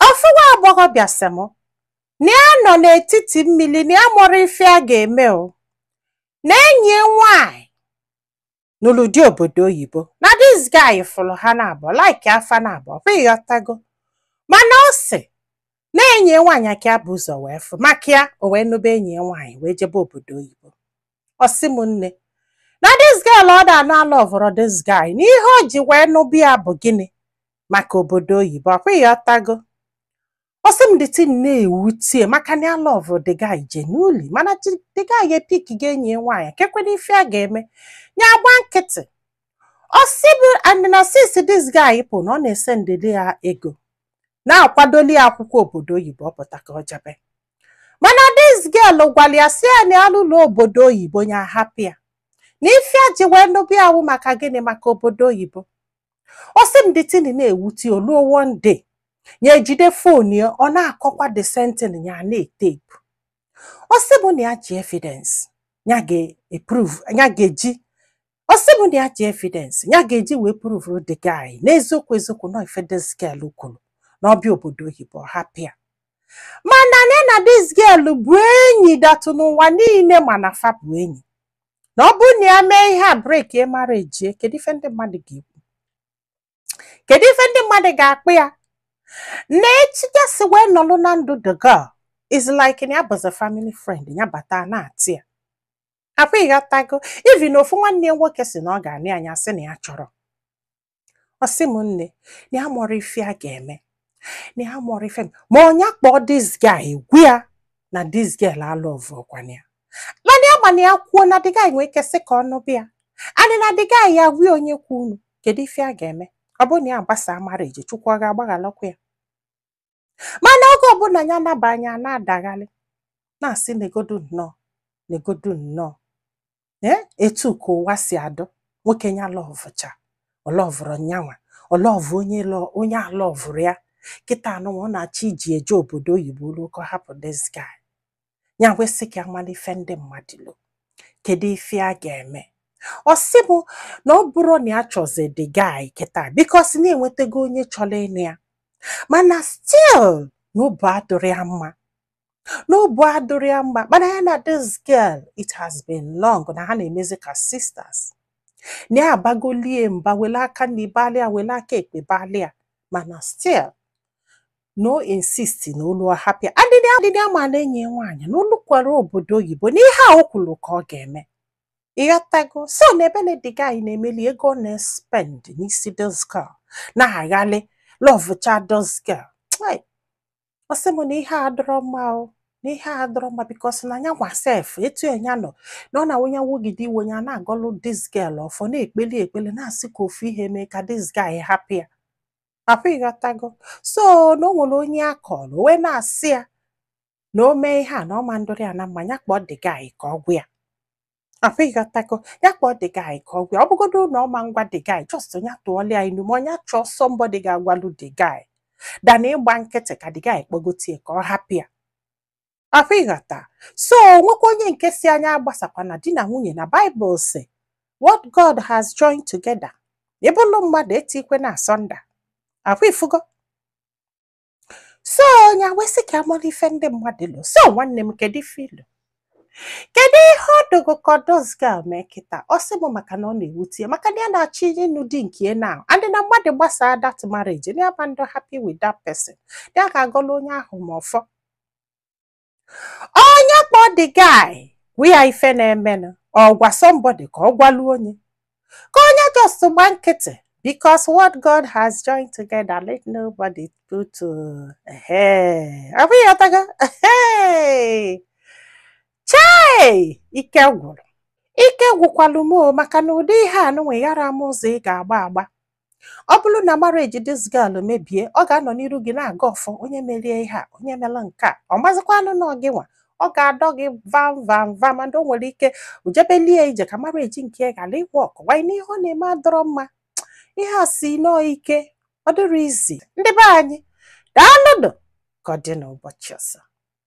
ofu nwa agbọghọ bịa sị m na ya nọ n'etiti mmiri na ya amarọ ife a ga-eme o na enyi ya nwanyị nụlụ di obodo oyibo na this guy fụrụ ha naabọ likea fa naabọ ọkwa ịghọtago mana ọ sị na enyi ya nwaanyị ka ya bu ụzọ wee fụ maka ya o wee nụba enyi ya nwaanyị wee jebe obodo oyibo ọ sị m nne na this girl ọ da na alọvụrọ this guy na ihe o ji wee nụba ya bụ gịnị maka obodo oyibo ọkwa ịghọtago ọ sị m the thing na-ewutie maka na ya lọvụ the guy genuinely mana chi- the guy epickgo enyi ya nwaanyị kekwena ife a ga-eme ya agba nkịtị ọ sị bụ and na since this guy pụ na ọ na-esendeli ya ego na-akwadoli ya akwụkwọ obodo oyibo ọ pụta ka ọ jebe mana this girl gwara ya sị ya na ya luo obodo oyibo ya hapụ ya na ife ya ji wee nụba ya wụ maka gịnị maka obodo oyibo ọ sị m the thing na-ewute oluo one day ya ejide fon ya ọ na-akọkwa the same thing ya na-etepu ọ sị m na ya ji evidence ya ga-eprove ya ga-eji ọ sị m na ya ji evidence ya ga-eji wee pụrụvụrụ the guy n'eziokwu eziokwu na ọ ife this girl kwuru na ọ bịa obodo oyibo ọ hapụ ya mana ya na this girl bụ enyi that n'ụwa niile ma na fa bụ enyi na ọ bụrụ na ya mee ihe a breakie marriage ya kedu ife ndị mmadụ ga-ekwu kedu ife ndị mmadụ ga-akpọ ya na echi ya si wee nọlụ na ndụ the girl is like na ya bụzi family friend ya bata na-atị ya ọkwa ịghọtago even na ofu nwanne ya nwoke sị na ọ ga-anụ ya ya sị na ya achọrọ ọ sị m nne na ya amarọ ife a ga-eme na ya amarọ ife m ma ya kpọọ this guy gwa ya na this girl alọvụrọkwanụ ya mana ya mana ya kwuo na the guy nwee ike sị ka ọ nụba ya anị na the guy ya gwie onye kwu unu kedu ife a ga-eme ọ bụrụ na ya gbasaa marriage chukwu ọ ga-agbaghalụkwa ya mana oge ọbụla ya nabaa nya na-adagharị na-asị negodu nnọọ negodu nnọọ ee etu ka ụwa si adụ nwoke ya lọvụcha ọ lọvụrọ nyanwa ọ lọvụ onye lọ- onye alọvụrọ ya kịta anụnwa ọ na-achọ iji eje obodo oyibo luo ka ọ hapụ this guy ya wee sị ka ya malụ ife ndị mmadụ lo kedu ife a ga-eme ọ sị m na ọ bụrọ na ya chọzi the guy kịta because na ya enwetago onye chọrọ ịnụ ya mana still na obu adụrọ ya mma n'obu adụrọ ya mma mana ya na this girl it has been long na ha na-emezi ka sisters na ya abagoli ya mba wele aka nni balị ya wele aka ekpe balị ya mana still na o insisti na o lu ọ hapụ ya adịdị adịdị amala enyi ya nwaanyị na o lukwara obodo oyibo na ihe a o kwuru ka ọ ga-eme ịghọtago so na ebe na the guy na-emeli ego ọ na-espend n'isi this girl na-aghalị lọvụcha this girl ọ sị m na ihe a adọrọ mma o na ihe a adọrọ mma because na nya nwa sef etu nya nọ na ọ na-awụnye nwogide iwe ya na-agọlụ this girl ọfọ na-ekpeli ekpeli na-asị ka ofu ihe mee ka this guy hapụ ya ọ kwa ịghọtago so na o nwere onye a kọrọ o wee na-asị ya na o mee ihe a na ọ ma ndụrị ya na mma ya kpọọ the guy ka ọ gwa ya ọ kwa ịghọtago ya kpọọ the guy ka ọ gwa ya ọ bụgodo na ọ ma ngwa the guy just ya tụọla ya inu ma ọ nya chọọ somebody ga-agwalụ the guy than ịgba nkịtị ka the guy kpọgote ya ka ọ hapụ ya ọ kwa ịghọta so nwekwa onye nke sị nya agbasakwana di na nwunye na Bible sị what God has joined together ịbụlụ mmadụ etikwena asunder ọ kwa ịfụgo so nya wee sị ka a mara ife ndị mmadụ lo so nwanne m kedu ife i lo kedu ihe ọ dọ gị ka this girl mee kịta ọ sị m maka na ọ na-ewute ya maka na ya na-achọ ịnụ di nke ya na adị na mmadụ gbasaa that marriage na ya ma ndụ happy with that person ya ga-agọla onye ahụ ma ọfọ ọ nya kpọọ the guy gwa ya ife na-emenụ ọ gwa somebody ka ọ gwalụ nya ka ọ nya just gba nkịtị because what God has joined together let nobody put to ọ bụ ịghọtago chai ike gwụrụ ike gwụkwalụ m maka na ụdị ihe a nụnwa ị yara ma ụzọ ị ga-agba agba ọ bụrụ na marriage this girl mebie ọ ga-anọ n'iru gị na-agọ ọfọ onye merie ihe a onye mere nke a ọ mazịkwanụ na ọ gị nwa ọ ga-adọ gị vam vam vam and o nwere ike ujebelie ije ka marriage nke ya ghara ịwork wanyị na ihe ọ na-eme adọrọ mma ihe a si nnọọ ike ọ dịrọ easy ndị be anyị daalụnụ ka ọ dị n'ụbọchị ọzọ